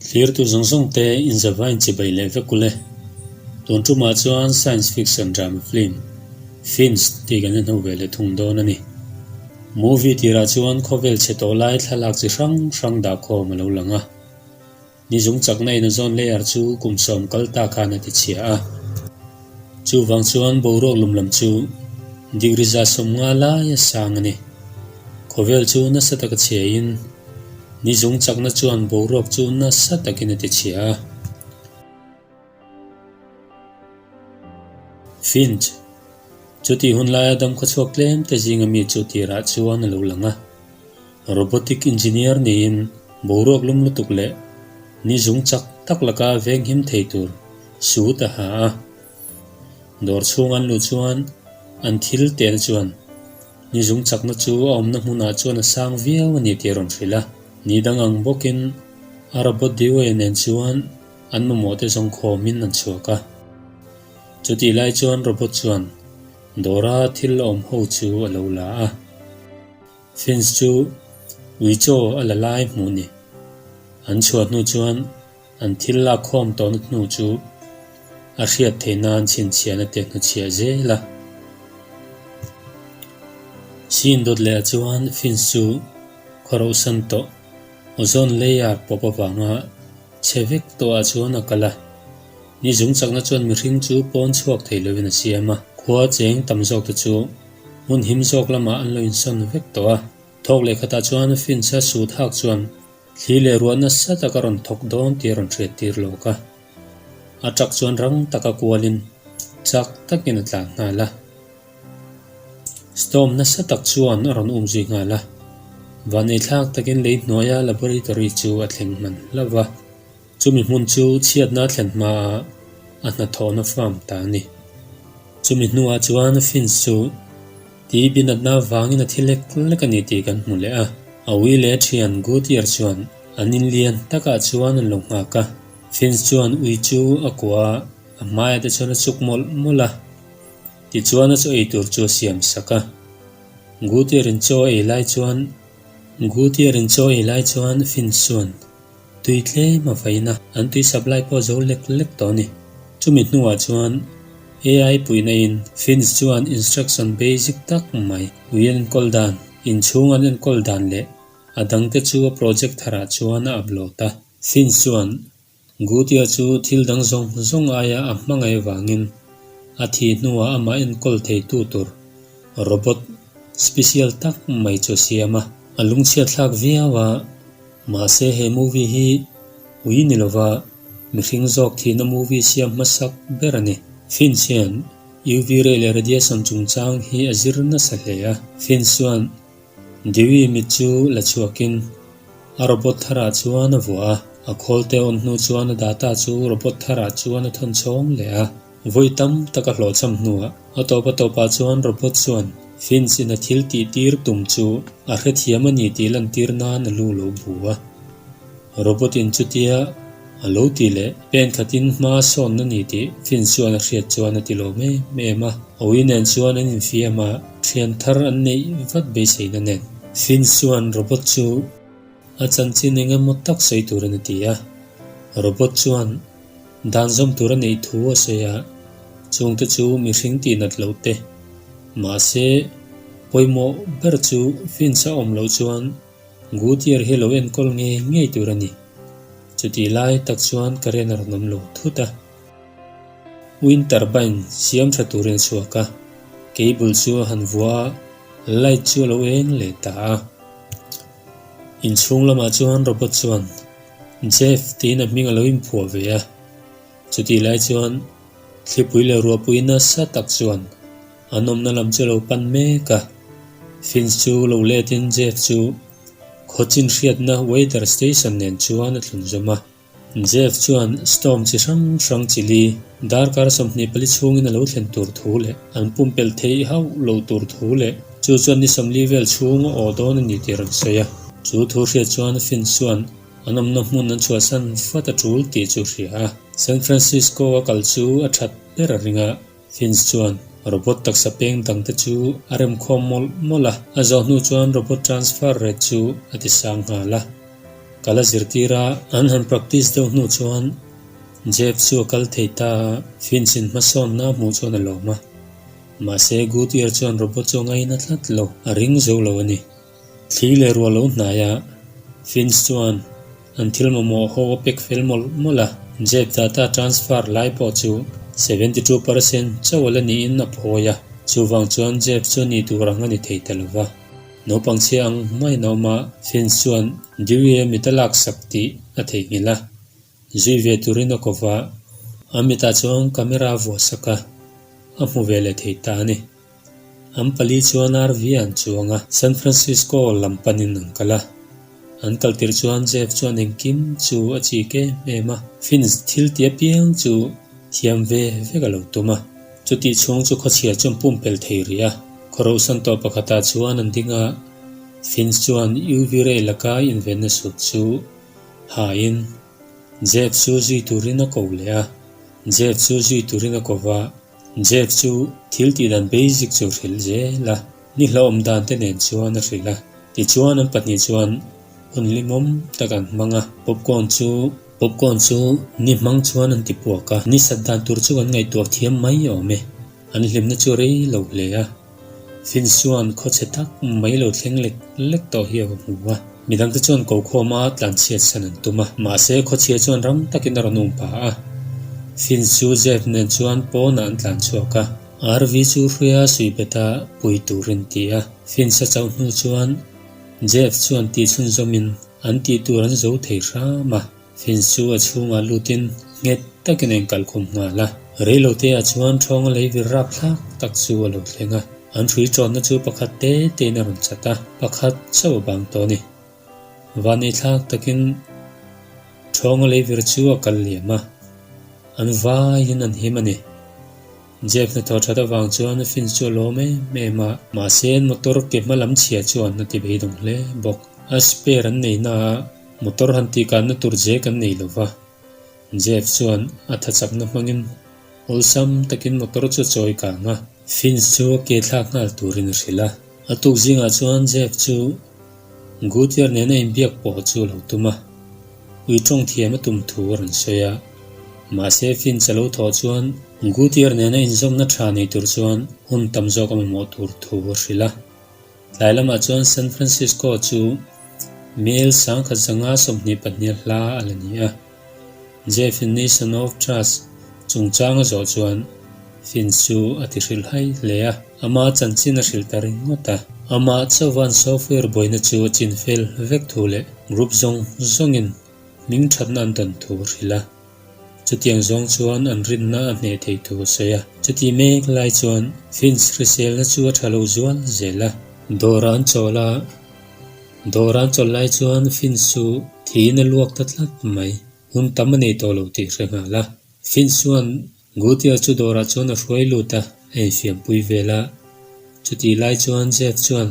Thirtu zawng zawng te inzava inchibai leh vek ule. Tun tumah chuan science fiction drama film, fins, tih kan inho ve leh thung dawn a ni. Movie tirah chuan khawvel chhe tawh lai thlalak chi hrang hrang dah khawm a lo lang a. Nizung chakna ina zawn layer chu kum sawm kal takah an ati chhia a. Chuvang chuan boruak lum lam chu degree za sawm nga lai a sang a ni. Khawvel chu nasa taka chhiain nizung chakna chuan boruak chu nasa takin a tichhia a. Finch, Chuti hun laia dam khawchhuak tlemte zinga mi chu tirah chuan a lo lang a. Robotic Engineer niin boruak lum lutuk leh ni zung chak tak laka veng him thei tur suit a ha a. Dawr chhung an luh chuan an thil tel chuan ni zung chakna chu a awmna hmunah chuan a sang viau a ni tih a rawn hrilh a. Ni dang ang bawkin a robot Dewey nen chuan an mamawhte zawng khawmin an chhuak a. Chutih lai chuan robot chuan dawra thil a awm ho chu a lo la a. Finns chu ui chaw a la lai hmuh ni. An chhuah hnu chuan an thil lak khawm tawhna hnu chu a hriat theih nan chhinchhiah na te hnuchhiah zel a. Siindot leha chuan Finns chu khaw rohsan tawh, ozone layer pawp avanga che vek tawh ah chuan a kal a. Ni zung chakna chuan mihring chu pawn chhuak thei lo in a siam a. Khua cheng tam zawk te chu Hmun him zawk lamah an lo insawn vek tawh a. Thawk leh khatah chuan Finch-a sut hak chuan thli leh ruah nasa taka rawn thawk dawn tih a rawn hriat tir lawk a. A truck chuan rang taka kualin chak takin a tlan nghal a. Storm nasa tak chuan a rawn um zui nghal a. Van ei thlak takin lei hnuaia laboratory chu a thleng hman hlauh va. Chumi hmun chu chhiatna thlen hmaah a hnathawhna farm ta a ni. Chumi hnuah chuan Finch chu ti binatna vangin a thi lek lek a ni tih kan hmu leh a. Awi leh thian Goodyear chuan an inlian takah chuan an lo nghak a. Finch chuan ui chu a kua a, a hmaiah te chuan a chuk mawlh mawlh a. Tichuan a chaw ei tur chu a siam sak a. Goodyear-in chaw ei lai chuan Goodyear-in chaw ei lai chuan Finch chuan Tui tlem a vaina an tui sap lai pawh zo lek lek tawh a ni. Chumi hnuah chuan AI puihnain Finns chuan instruction basic tak mai ui an enkawl dan, inchhung an enkawl dan leh a dangte chu a project tharah chuan a upload a. Finns chuan Gutia chu thil dang zawng zawng aia a hmangaih vangin a thi hnuah amah enkawl theitu tur, robot, Special tak mai chu siam a. A lung chhiat thlak viau a, mahse he movie hi ui ni lova mihring zawk thihna movie siam hmasak ber a ni. Fins hian UV ray leh radiation chungchang hi a zir nasa hle a. Fins chuan Dewey mit chu la chhuakin a robot tharah chuan a vuah a, a khawlte a awm hnu chuan a data chu robot tharah chuan a thawn chhawng leh a. Vawi tam tak a hlawh cham hnuah a tawp a tawpah chuan Robert chuan Vince ina thil tihtir tum chu a hre thiam a ni tih lantir nan a lu lo bu a. Robert in chutia a lo ti leh pen khatin hma a sawn a ni tih Vince chuan a hriat chuan a ti lawm em em a. Awi nen chuan an infiam a, thian thar an neih vat beiseina nen Vince chuan Robert chu a chanchin engemaw tak sawi tur a ni ti a. Robert chuan Danzawm tura neih thu a sawi a, chungte chu mihring tih nat loh te. Mahse, pawimawh ber chu Vince a awm loh chuan Gutier hi lo enkawl ngei ngei tur a ni. Chutih lai tak chuan Karen a rawn awm lo thut a. Wind turbine siam tha turin chhuak a, cable chu a han vua a, light chu a lo eng leh ta a. Inchhung lamah chuan robot chuan. Jeff tiin a hming a lo inphuah ve a, chutih lai chuan thlipui leh ruahpui nasa tak chuan an awmna lam chu a lo pan mek a. Finch chu lo letin Jeff chu khaw chin hriatna weather station nen chuan a thlun zawm a. Jeff chuan storm chi hrang hrang chili darkar sawmhnih pali chhungin a lo thlen tur thu leh an pumpelh thei hauh lo tur thu leh, Chu chuan ni sawmli vel chhung a aw dawn a ni tih a rawn sawi a. Chu thu hriat chuan Finn chuan an awmna hmun an chhuahsan fat a tul tih chu a hria a. San Francisco a kal chu a that ber a ring a, Finn chuan robot taksa peng dang te chu a rem khawm mawlh mawlh a. A zawh hnu chuan robot transfer ret chu a ti sang nghal a, kal a zir tir a. An han practice deuh hnu chuan Jeff chu a kal thei ta a, Finn sin hmasawnna hmuh chuan a lawm a. Mahse, Goodyear chuan robot chu a ngai natlat lo, a ring zo lo a ni. Thli leh ruah lo hnaia, Finns chuan an thil mamawh a ho a pek fel mawlh mawlh a. Jeb data transfer lai pawh chu seventy two percent chauh la niin a phawi a, chuvang chuan Jeb chu nih tur ang a ni thei ta lo va. Naupang chhia ang hmain a awm a, Finns chuan Dewey-a mit a laksak tih a theihnghilh a. Zui ve turin a kaw va. Amita chuan camera vuasak a, a hmu ve leh thei ta a ni. An pali chuan RV an chuang a, San Francisco lam panin an kal a. An kal tirh chuan Jeff chuan engkim chu a chik em em a, Vince thil ti apiang chu thiam ve vek a lo tum a, chutih chhung chu khawchhia chu an pumpelh thei rih a. Khaw rohsan tawh pakhatah chuan an ding a, Vince chuan UV ray laka invenna sup chu, Hain, Jeff chu zui turin a ko leh a, Jeff chu zui turin a ko va, Jeff chu thil tih dan basic chu a hrilh zel a, nihlo awm dan te nen chuan a hrilh a. Tichuan an pahnih chuan hun limawm tak an hmang a, popcorn chu, popcorn chu ni hmang chuan an tipuak a, ni sat dan tur chu kan ngaihtuah thiam mai awm e, an hlimna chu a rei lo hle a. Fitz chuan khawchhe tak mai lo thleng lek lek tawh hi a va hmu a, midang te chuan ko khawm a tlan chhiat san an tum a, mahse khawchhia chuan ram takin a rawn um pa a. Fitz chu Jeff nen chuan pawnah an tlan chhuak a, RV chu hruia sui bet a pui turin ti a, Fitz a chauhnu chuan Jeff chuan tihchhunzawmin an tihtur an zo thei hram a. Fence chu a chhungah lutin nghet takin a inkal khawm nghal a. Reilotea chuan thawng a lei vir rap thlak tak chu a lo thleng a. An hrui ṭawnna chu pakhat te tein a rawn chat a, pakhat chauh a bang tawh a ni. Van ei thlak takin thawng a lei vir chu a kal liam a, an vaiin an him a ni. Jeff hna thawh that avang chuan Finn chu a lawm em em a, mahse motor ke hma lam chhia chu an hna ti vei dawng hle bawk. A spare an nei naah motor han tihkatna tur je kan nei lo va. Jeff chuan a tha chakna hmangin awlsam takin motor chu a chawi kang a. Finn chu a ke thlak nghal turin a hrilh a. A tuk zingah chuan Jeff chu Gutier nen a inbiak pawh chu a lo tum a, ui tawng thiam a tum thu a rawn sawi a. Mahse, Finch a lo thawh chuan Gutier nen a inzawmna tha nei tur chuan hun tam zawk a mamawh tur thu a hrilh a. Tlai lamah chuan San Francisco chu Mil sangkhat zanga sawmhnih pahnial hla a la ni a. Definition of Trust, Chungchanga zawh chuan Finn chu a ti hrilh hai hle a, ama chanchin a hrilh ta ringawt a. Amah chauhan software buaina chu a chin fel vek thu leh group zawng zawngin hming thatna an tawn thu a hrilh a. Chutiang zawng chuan an rinna a hneh thei thu a sawi a. Chuti mek lai chuan Finns hriselna chu a tha lo zual zel a. Dawrah an chawlh a. Dawr an chawlh lai chuan Finsu thiin a luak ta tlat mai. Hun tam a nei tawh lo tih hre nghal a. Finsu'n Gutia chu dawrah chuan a hruai lut a, a infiampui vel a. Chutih lai chuan Jeff chuan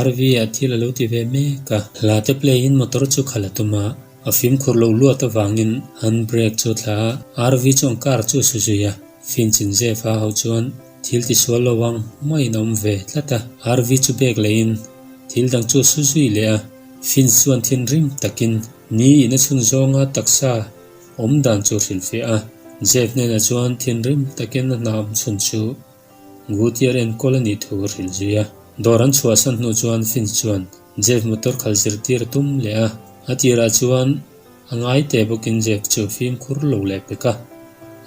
RV ah thil a lo ti ve mek a. Hla te pleiin motor chu khal a tum a, a fimkhur loh luat avangin handbrake chu a thla a. RV chuan car chu a su zui a. Finchin Jeff a hauh chuan Thil ti sual lo ang, maiin a awm ve tlat a. Arvi chu bag leh in thil dang chu a su zui leh a, Finch chu an thinrim tak in ni in a chhun zawng a taksa awm dan chu a hrilh fiah a. Jeff hnenah chuan thinrim tak in a hna awm chhun chu Gutier enkawl a nih thu a hrilh zui a. Dawr an chhuahsan hnu chuan Finch chuan Jeff motor khal zir tir a tum leh a, a tirah chuan, A ngai teh bawkin zek cheu fim khur lo leh pek a.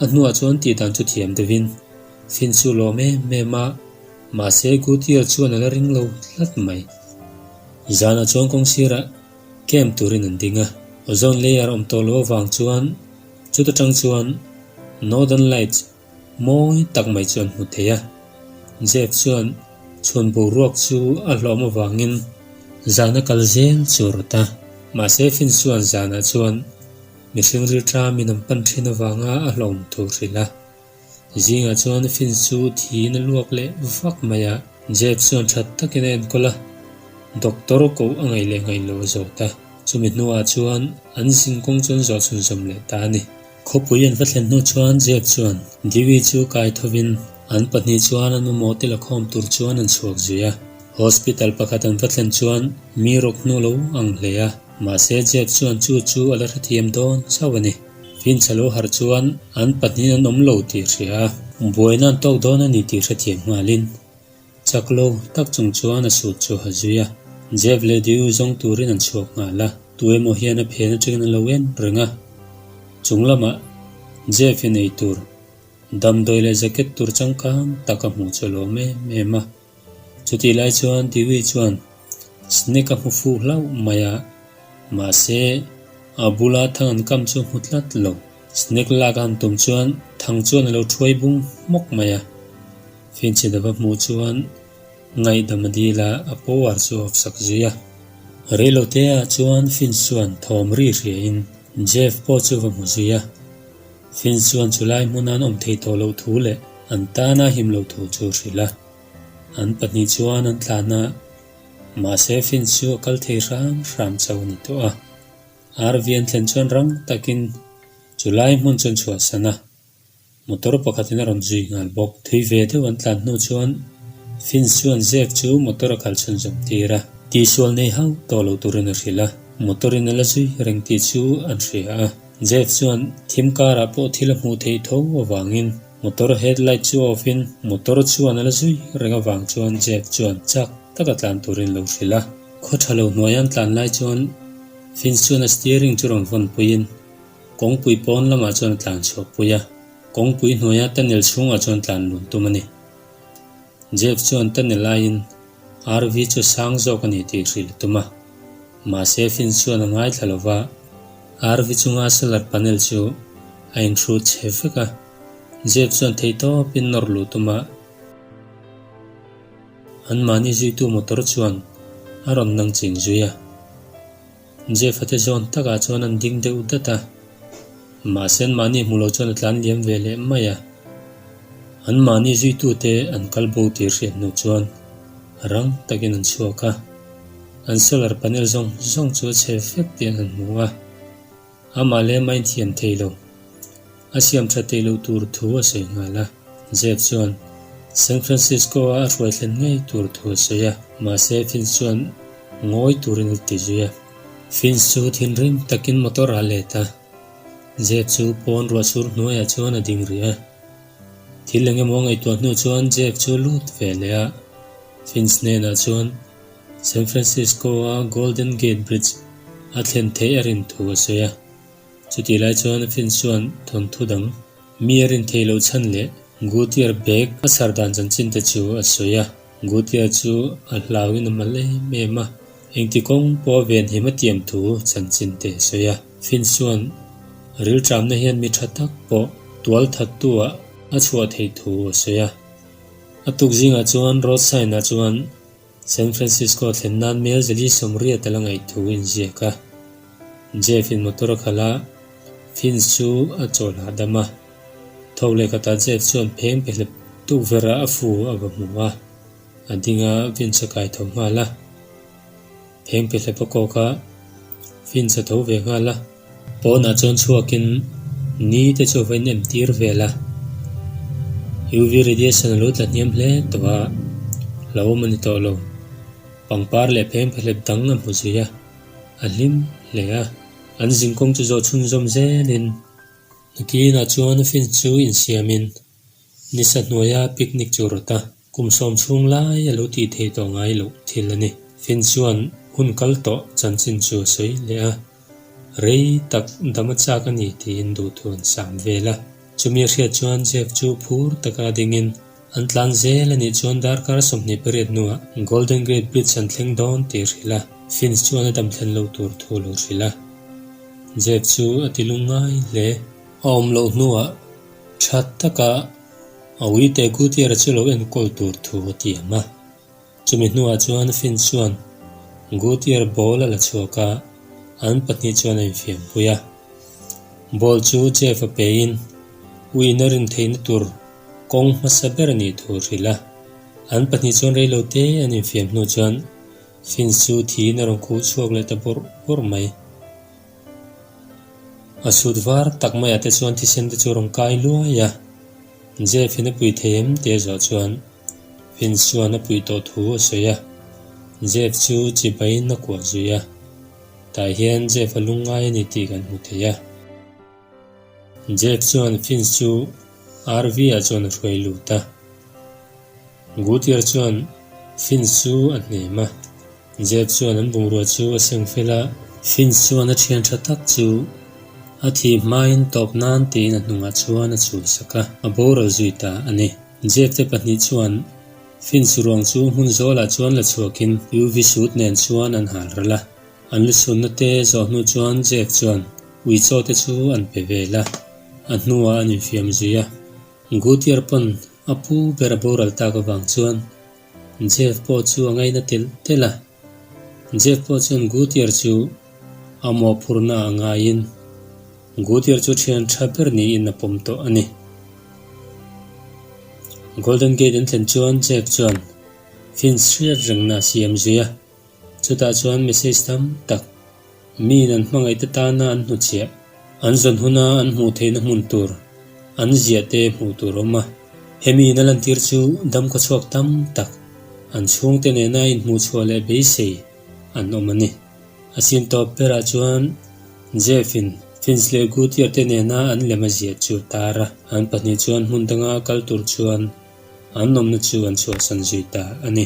A hnuah chuan tih dan chu thiam deuhin fin su lawm em em a, mahse good year chuan a la ring lo hlat mai. Zanah chuan kawng sirah camp turin an ding a. Ozone layer awm tawh loh avang chuan chut atang chuan Northern Lights Mawi tak mai chuan hmu thei a. Jeff chuan chhun boruak chu a hlawm avangin zan a kal zel chu a rawt a. Mahse Finn chuan zanah chuan mihring rilṭha min an pan ṭhin avanga a hlawm tur hrilh a. Zingah chuan Finn chu thiin a luak leh vak mai a. Jeff chuan ṭhat takin a enkawl a, doctor koh a ngaih leh ngaih lo zawt a. Chumi hnuah chuan an zin kawng chuan zawh chhunzawm leh ta a ni. Khawpui an va thlen hnu chuan Jeff chuan Dewey chu kai thovin an pahnih chuan an mamawh te la khawm tur chuan an chhuak zui a. Hospital pakhat an va thlen chuan mi rawk hnu lo ang hle a, mahse Jeff chuan chu chu a la hrethiam dawn chauh a ni. Vince a lo harh chuan an pahnihin an awm lo tih a hria a. Buaina an tawk dawn a ni tih hrethiam nghalin. Chak lo tak chung chuan a suit chu a zui a, Jeff leh Deu zawng turin an chhuak nghal a, tu emaw hian a phen atangin an lo en reng a. Chung lamah Jeff-in ei tur, damdawi leh jacket tur changkang tak a hmuh chawlawm em em a. Chutih lai chuan Deu-i chuan snack a hmu fuh hlauh mai a, mahse, a bula thang an kam chu hmu tlat lo. Snake lak a han tum chuan thang chuan a lo thuai bung hmawk mai a. Finchhidap a hmuh chuan ngaihdam a dil a, a povar chu a awpsak zui a. Reilote ah chuan Finch chuan thawm ri hria in Jeff pawh chu va hmu zui a. Finch chuan chu lai hmuna an awm thei tawh loh thu leh an tan a him lo thu chu a hrilh a. An pahnih chuan an tla hna a, mahse Finch chu a kal thei hram hram chauh a ni tawh a. Arvi an thlen chuan rang takin chu lai hmun chuan chhuah sana motor pakhatin a rawn zui nghal bawk. Thui ve deuh an tlan hnu chuan Finch chuan Jack chu motor a kal chhun zawm tir a. Tisual nei hau tawh lo turin a hrilh a, motorin a la zui reng tih chu an hria a. Jack chuan thim karah pawh thil a hmuh theih tho avangin motor headlight chu off-in motor chuan a la zui reng avang chuan Jack chuan chak taka tlan turin lo hrilh a. Khaw tha lo hnuai an tlan lai chuan Vince chuan a steering chu rawn vawn puiin kawngpui pawn lamah chuan a tlan chhuak pui a, kawngpui hnuaia tunnel chhungah chuan tlan lun tum a ni. Jeff chuan tunnel aiin RV chu sang zawk a ni tih hrilh tum a, mahse Vince chuan a ngai thla lova, RV chunga solar panel chu a inhrut che vek a, Jeff chuan thei tawpin nawr luh tum a, An mahni zuitu motor chuan a rawn nang ching zui a. Jeff-a te zawn takah chuan an ding deuh dat a, mahse an mahni hmuh lo chuan a tlan liam ve leh mai a. An mahni zuitute an kal bo tir hriat hnu chuan rang takin an chhuak a, an solar panel zawng zawng chu a chhe vek tih an han hmu a. Amah lem a inthiam thei lo. A siam tha teh loh tur thu a sawi nghal a, Jeff chuan San Francisco-a a hruai thlen ngei tur thu a sawi a, mahse Vince chuan ngawi turin a ti zui a. Vince chu thinrim takin motor a let a, Jeff chu pawn ruahsur hnuaiah chuan a ding rih a. Thil eng emaw ngaihtuah hnu chuan Jeff chu lut veleh a, Vince hnenah chuan, San Francisco-a Golden Gate Bridge a thlen theih a rin thu a sawi a, chutih lai chuan Finn chuan thawnthu dang mi a rin thei loh chhan leh Guttier bag a chhar dan chanchin te chu a sawi a, Guttier chu a hlauin a mal em em a, engti kawng pawh a ve hnem a tiam thu chanchin te a sawi a, Finn chuan rilṭamna hian mi ṭha tak pawh tual thattuah a chhuah thei thu a sawi a, a tukzingah chuan road sign-ah chuan San Francisco thlen nan mel zali sawmriat a la ngaih thu inziak a, Jeff in motor a khalh a, Vince chu a chaw hlah dam a. Tho leh khatah Jeff chuan pheng pe hlep tukverah a fu a va hmu a, a ding a Vince a kai tho nghal a. Pheng pe hlep a kawk a, Vince a tho ve nghal a. Pawnah chuan chhuakin ni te chu va in emtir ve la, UV radiation a lo tla hniam hle tawh a, hlauh awm a ni tawh lo. Pangpar leh pheng phahlep dang a hmu zui a, a hlim hle a. An zing kawng chu zawh chhunzawm zelin. Nakinah chuan fence chu insiamin. Ni sa hnuaia picnic chu rawt a kum sawm chhung lai a lo tih thei tawh ngai loh thil a ni. Finn chuan hun kal tawh chanchin chu a sawi leh a, rei tak dam a chak a ni tiin duhthû an sam vel a. Chumi a hriat chuan Jeff chu phûr taka a dingin an tlan zel a nih chuan darkar sawmhnih pariat hnuah Golden Gate Bridge an thleng dawn tih a hrilh a, Finn chuan a damthlen lo tur thu a lo hrilh a. Jeff chu a ti lung ngai hle. A awm loh hnuah Tha taka Awite Gutiera chu lo enkawl tur thu a ti ang a, chumi hnuah chuan Finn chuan Gutier ball a la chhuak a, an pahnih chuan a infiampui a. Ball chu Jeff-a peiin uiin-a rin theihna tur kawng hmasa ber a nih thu a hrilh a, an pahnih chuan reilo te an infiam hnu chuan Finn chu thiin a rawn khuh chhuak leh ta bawrh bawrh mai. A suit var tak maia te chuan thisen te chu a rawn kai luai a, Jeff in a pui thei em tih zawh chuan Vince chuan a pui tawh thu a sawi a, Jeff chu chibai in a kuah zui a, tah hian Jeff a lungngai a ni tih kan hmu thei a. Jeff chuan Finch chu RV ah chuan a hruai lut a. Guttier chuan Finch chu a hnem a. Jeff chuan an bungrua chu a seng fel a. Finch chuan a thian tha tak chu a thih hmain tawp nan tiin a hnungah chuan a chul sak a, a boral zui ta a ni. Jeff te pahnih chuan Finch ruang chu hmun zawl ah chuan la chhuakin UV suit nen chuan an hal ral a. An lu sunnate zawh hnu chuan Jack chuan Uichawte chu an pe vel a, a hnuah an infiam zui a. Gutier pawn a pu ber a boral tak avang chuan Jeff pawh chu a ngaina telh telh a. Jeff pawh chuan Gutier chu a mawhphurhna ah ngaiin Gutier chu thian tha ber niin a pawm tawh a ni. Golden Gate an thlen chuan Jack chuan Finch hriat rengna a siam zui a. Chutah chuan message tam tak miin an hmangaih te tana an hnu chhiah. An zawn huna an hmuh theihna hmun tur an ziah te hmuh tur awm a. Hemiin a lantir chu dam khawchhuak tam tak an chhungte nena inhmuh chhuah leh beisei an awm a ni. A sin tawp berah chuan Jeff-in Finch leh Goodyear te nena an lem a ziah chu tar a, an pahnih chuan hmun danga a kal tur chuan an awmna chu an chhuahsan zui ta a ni.